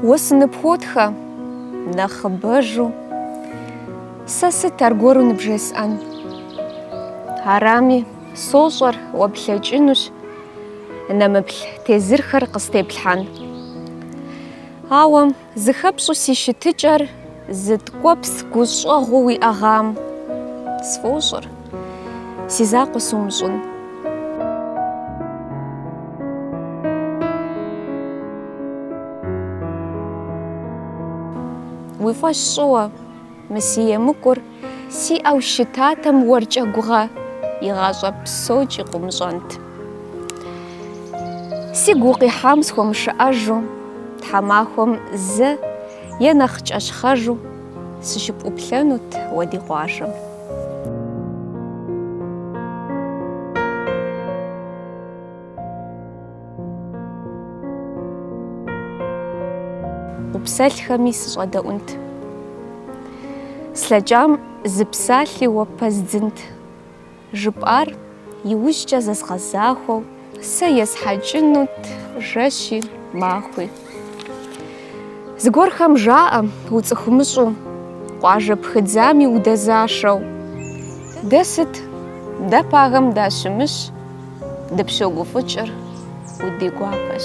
Уэ сыныпхуотхэ, нэхъыбэжу, сэ сыт аргуэру ныбжесӏэн? Арами, сощӏэр, уэ плъэкӏынущ, нэмыплъ тезырхэр къыстеплъхьэн. Ауэ зыхэпщӏу си щытыкӏэр. Зы ткӏуэпс гущӏэгъуу уиӏэгъам. Сфӏощӏыр си закъуэ сумыщӏын. Уи фӏэщ щӏы, уэ мы си емыкӏур. Сиӏэу щытатэм уэркӏэ гугъэ, игъащӏэ псокӏи къумыщӏэнт. Сигу укъихьам схуэмышыӏэжу, тхьэмахуэм зэ е нэхъ кӏэщхъэжу сыщыпӏуплъэнут уэ ди къуажэм. Упсэлъхэми сыщӏэдэӏунт. Слъэкӏам зы псалъи уэ пэздзынт. Жыпӏар иужькӏэ зэзгъэзахуэу. Сэ есхьэкӏынут жэщи махуи. Зыгуэрхэм жаӏэ, уцӏыхумыщӏу, къуажэ пхыдзами удэзашэу. Дэ сыт? Дэ пагэм дащымыщ, дыпщогуфӏыкӏыр ди гуапэщ.